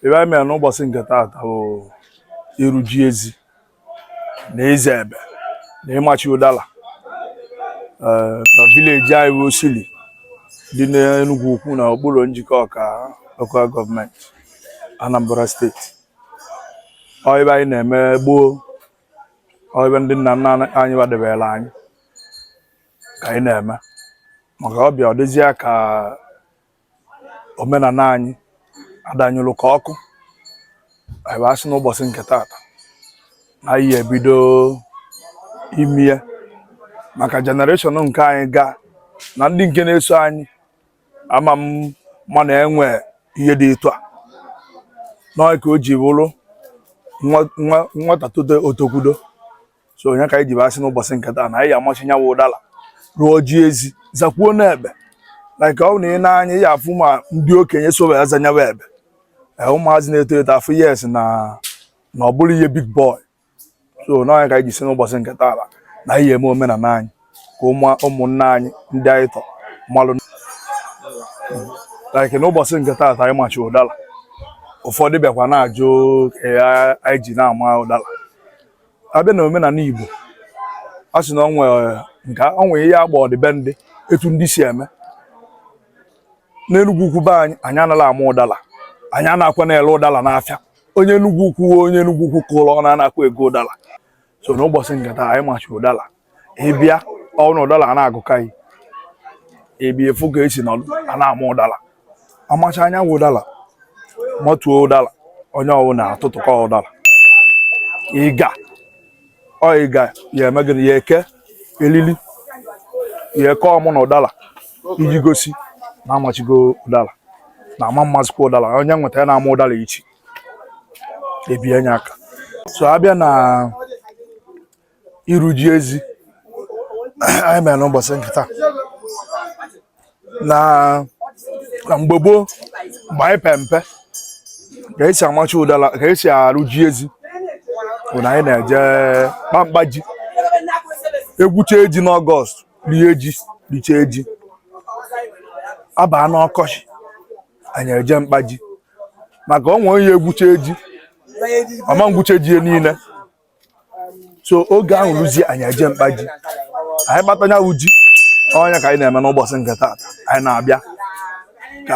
ihe anyị mere n'ụbọsị nke taata bụ ịrụ ji ezi na ịza ebe na ịmachi ụdala eh, na vileji anyị bụ Osili dị n'Enugwu Ukwu na okpuru Njikọka lokal gọọmenti Anambra steeti ọ ihe anyị na-eme gboo ọ ihe ndị nna nna anyị kwadebere anyị ka anyị na-eme maka ọ bịa ọ dịzịa ka omenala anyị adanyụrụ ka ọkụ anyị wee sị n'ụbọsị nke taata na anyị ebido ime ya maka jenereshọn nke anyị ga na ndị nke na-eso anyị ama m ma na e nwee ihe dị etu a n'ọ nya ka o ji bụrụ nwata tote o tokwudo so ọ nya ka anyị ji asị n'ụbọsị nke taa na anyị amachi nya wụ ụdala rụọ ji ezi zakwuo n'ebe like ọ bụ na i nee anya ị ya-afụ ma ndị okenye so bịa za nya wụ ebe ụmụazị na-eto eto afụ yes na na ọ bụrụ ihe dị gboo so n'ọ nya ka anyị ji sị n'ụbọsị nke taa na anyị eme omenala anyị ka ụmụnna anyị ndị anyị tọ malụ like n'ụbọsị nke taata anyị machi ụdala ụfọdụ bịakwa na-ajụ ka anyị ji na-ama ụdala a bịa na omenala Igbo a sị na ọ nwere nke ọ nwere ihe agba ọdịbendị etu ndị si eme n'Enugwu ukwu be anyị anyị anaghị ama ụdala anyị anakwa na-ele ụdala n'afịa onye Enugwu ukwu onye Enugwu ukwu kụrụ ọ na-anakwa ego ụdala so n'ụbọsị nke taa anyị machi ụdala ị bịa ọ wụ na ụdala a na-agụka gị ị bịa fụ ka esi nọ a na-ama ụdala a machaa nya wụ ụdala matuo ụdala onye ọwụna atụtụkọ ụdala ịga ọ ịga ya eme gịnị ya eke elili ya eke ọmụ na ụdala iji gosi na amachigo ụdala na ama mazikwa ụdala onye nweta ya na-ama ụdala ichie ebie nya aka so a bịa na ịrụ ji ezi anyị mere n'ụbọsị nke taa na na mgbe gboo mgbe anyị pe mpe ka esi amachi ụdala ka esi arụ ji ezi bụ na anyị na-eje kpa mkpa ji e gwuchaa ji n'ọgọst rie ji richaa ji a baa n'ọkọchị anyị eje mkpa ji maka ọ nwee onye gwuchaa ji ọ ma gwucha ji ya niile so oge ahụ ruzie anyị eje mkpa ji anyị kpata nya wụ ji ọ nya ka anyị na-eme n'ụbọsị nke taata anyị na-abịa ka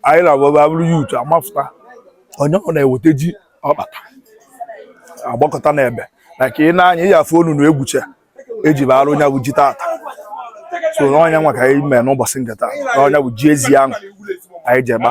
anyị na-abụba bụrụ ya utu a mafụta onye ọwụna eweta ji ọ kpata agbakọta n'ebe like i nee anya ị ya-afụ ọnụnụ egwuche eji bụ arụ nya bụ ji tata so na ọ nya nwa ka anyị mee n'ụbọsị nke taa nya bụ ji ezi ahụ anyị ji egba